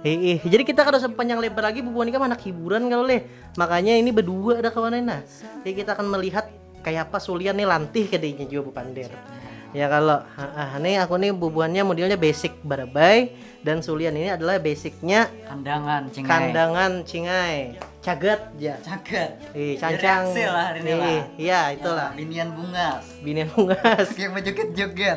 Heeh, jadi kita kada usah panjang lebar lagi bubuhan ikam anak hiburan kalau leh. Makanya ini berdua ada kawanan nah. Jadi kita akan melihat kayak apa Sulian nih lantih ke dinya juga bepander. Ya kalau ah, nih aku nih bubuhannya modelnya basic barabai dan Sulian ini adalah basicnya kandangan cingai. Kandangan cingai. Cagat ya. Cagat. Ih, cancang. Direksi lah hari ini lah. Ih, iya itulah. Binian bungas. Binian bungas. Kayak baju joget.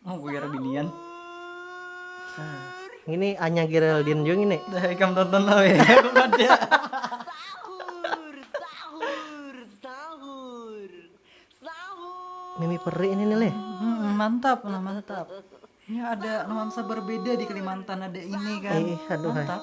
Mungguir binian. Ngini Anya Geraldine jua ngini. Dah ikam tonton lah weh aku kada. Mimi peri ini nih leh. Hmm, mantap lah mantap. Ini ada nuansa berbeda di Kalimantan ada ini kan. Eh, aduh, hai. mantap.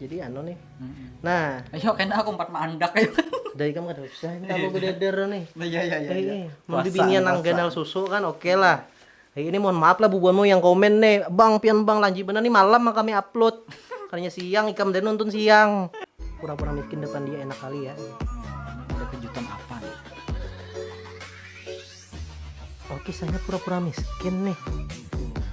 jadi anu nih hmm. nah ayo kena aku empat maandak ayo dari kamu kan susah ini aku gede dero nih nah, iya iya iya, iya. mau dibinian nang ganal susu kan oke okay lah eh, ini mohon maaf lah bubuanmu yang komen nih bang pian bang lanji bener nih malam mah kami upload karena siang ikam dan nonton siang pura-pura miskin depan dia enak kali ya ada kejutan apa nih oke saya pura-pura miskin nih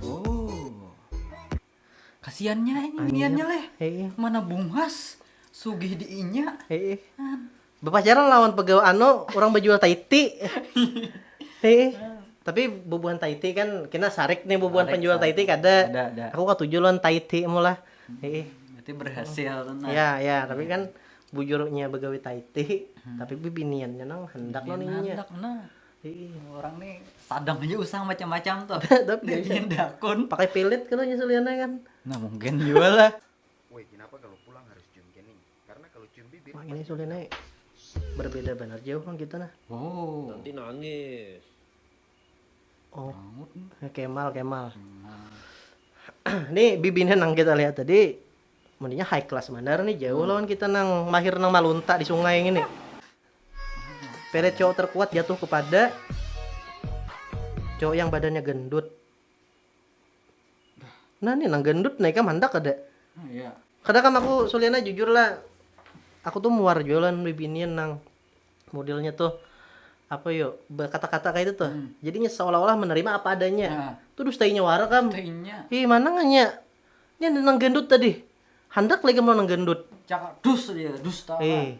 oh Kasiannya ini biniannya leh. Mana bungas sugih di inya. Bepacaran lawan pegawa anu orang bejual taiti. Tapi bubuhan taiti kan kena sarik nih bubuhan penjual taiti kada. Aku katuju lawan taiti mu lah. Berarti berhasil tu nah. Ya ya tapi kan bujur inya begawi taiti tapi bibiniannya nang handak lawan inya. Ih, orang nih sadang aja usang macam-macam tuh. Tapi Dia bikin dakun. pakai pelet kalau nyusuliannya kan. Nah, mungkin juga lah. Woi, kenapa kalau pulang harus cium kening? Karena kalau cium bibir Wah, ini suliannya berbeda benar jauh kan kita nah. Oh. Nanti nangis. Oh, Bangun. Kemal, Kemal. Nih bibinnya nang kita lihat tadi mandinya high class mandar nih jauh lawan kita nang mahir nang malunta di sungai ini. Pelet cowok terkuat jatuh kepada cowok yang badannya gendut. Nah nih nang gendut nih kam handak kada? Ah, iya. Kada kam aku suliana jujur lah. Aku tuh muar juga lah bibinian nang modelnya tuh apa yo berkata-kata kayak itu tuh. Hmm. Jadinya seolah-olah menerima apa adanya. Ya. Tuh dustainya wara kam. Dustainya. Ih mana nganya? Ini nang gendut tadi. Handak lagi mau nang gendut. Cakak dus dia, dusta. Eh,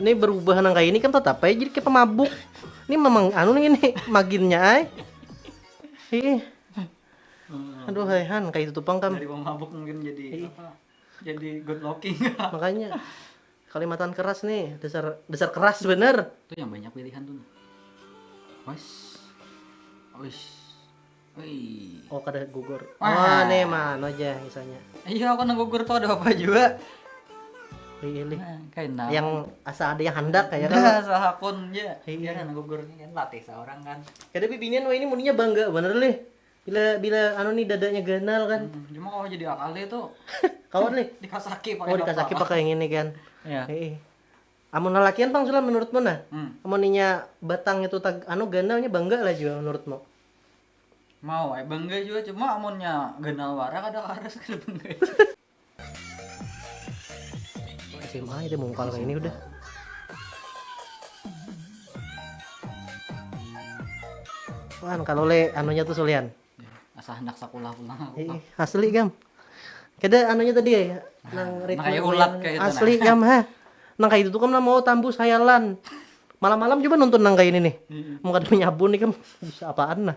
ini berubah nang kayak ini kan tetap aja jadi kayak pemabuk ini memang anu nih ini maginnya ay ih aduh hehan kayak itu pang kam dari pemabuk mungkin jadi apa jadi good looking makanya Kalimatan keras ni dasar dasar keras bener. Itu yang banyak pilihan tuh. Wes. Wes. Oh kada gugur. Wah. Oh nih mana aja misalnya. Iya aku nang gugur tuh ada apa juga. Pilih. Nah, kain nah. Yang asa ada yang hendak kayak kan. Nah, salah akun ya. Iya kan gugur kan latih seorang kan. Kada bibinian wah ini muninya bangga bener lih. Bila bila anu nih dadanya ganal kan. Hmm, cuma kalau jadi akal itu kawan nih dikasaki pakai oh dikasaki pakai yang ini kan. Iya. Heeh. Amun lalakian pang sulah menurutmu nah. Hmm. Amun inya batang itu tag, anu ganalnya bangga lah juga menurutmu. Mau eh bangga juga cuma amunnya ganal wara kada harus kada bangga. SMA itu mungkal kayak ini udah Wan, kalau le anunya tuh sulian. Asa hendak sekolah pulang aku. Eh, asli gam. Kada anunya tadi ya, nang ritme kayak ulat kayak itu, nah. asli gam ha. Nang kayak itu tuh kan mau tambus hayalan. Malam-malam coba nonton nang kayak ini nih. Mau kada nyabu nih kan bisa apaan nah.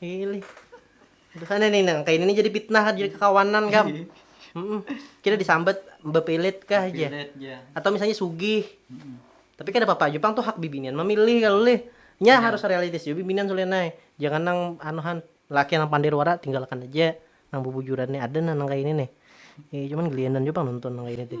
Pilih. Terus ada nih nang kayak ini jadi fitnah jadi kekawanan gam. Mm-mm. Kita disambat bepilit kah aja. Pilet ja. Atau misalnya sugih. Mm-mm. Tapi kada apa-apa aja pang tuh hak bibinian memilih kalau lih. Nya Iya. harus realistis juga bibinian sulenai. Jangan nang anuhan laki nang pandir wara tinggalkan aja. Nang bubujuran nih ada nah nang kayak ini nih. Eh, cuman gelianan juga pang nonton nang kayak ini teh.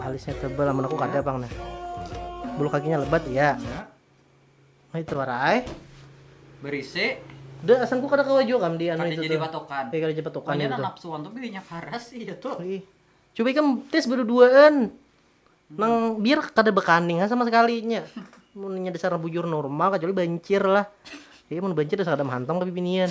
alisnya tebal amun aku kada pang nah bulu kakinya lebat iya nah itu warai berisi de asam ku kada kawa jua kam di anu itu jadi patokan kada jadi patokan banyak nang napsuan tuh bininya karas iya tuh coba ikam tes beduduaan nang biar kada bekaning ha sama sekali nya munnya dasarnya bujur normal kecuali bancir lah jadi mun bancir dasar kada mahantong tapi binian.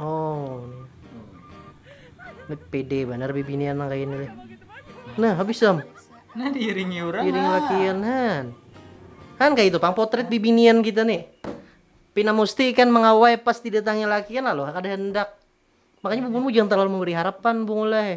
oh ini pede bener bibinian nang kayak ini nah habis sam nah diiringi orang diiringi lakian han han kayak itu pang potret bibinian kita nih Pina Musti kan mengawai pas didatangi lakian lalu kada hendak makanya bubunmu jangan terlalu memberi harapan bungulai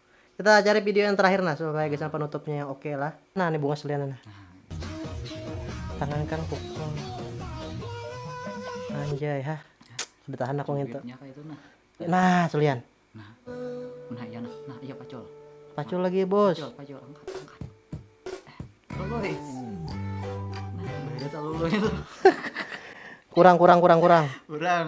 Kita cari video yang terakhir nah supaya guys penutupnya yang oke okay lah. Nah ini bunga selian nah. Tangan kan pukul. Anjay ha. Sudah tahan aku ngintu. Nah selian. Nah. Nah iya nah. Nah iya pacul. Pacul nah. lagi bos. Pacul, pacul angkat angkat. Eh, Nah, itu. kurang kurang kurang kurang. Kurang.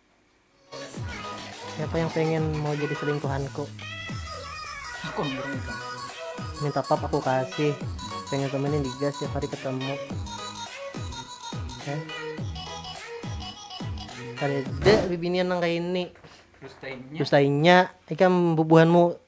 Siapa yang pengen mau jadi selingkuhanku? Aku yang berminta. Minta pap aku kasih. Pengen temenin Diga setiap hari ketemu. Eh. Kada ada bibinian nang kayak ini. Dustainya. Dustainya. Ikam bubuhanmu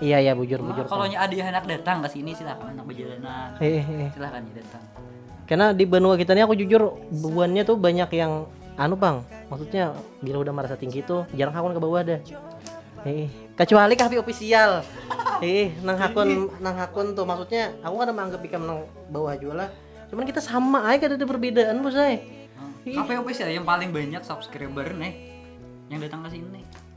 Iya ya bujur bujur. Kalau nya ada yang anak datang ke sini silakan anak bejalanan. Heeh. Iya, iya. Silakan ya datang. Karena di benua kita ini aku jujur bebuannya tuh banyak yang anu bang. Maksudnya bila udah merasa tinggi tuh jarang hakun ke bawah deh. Heeh. Kecuali kafe official. Heeh, nang hakun nang hakun tuh maksudnya aku kan menganggap ikam nang bawah juga lah. Cuman kita sama aja kada ada perbedaan bos ay. Kafe official yang paling banyak subscriber nih yang datang ke sini.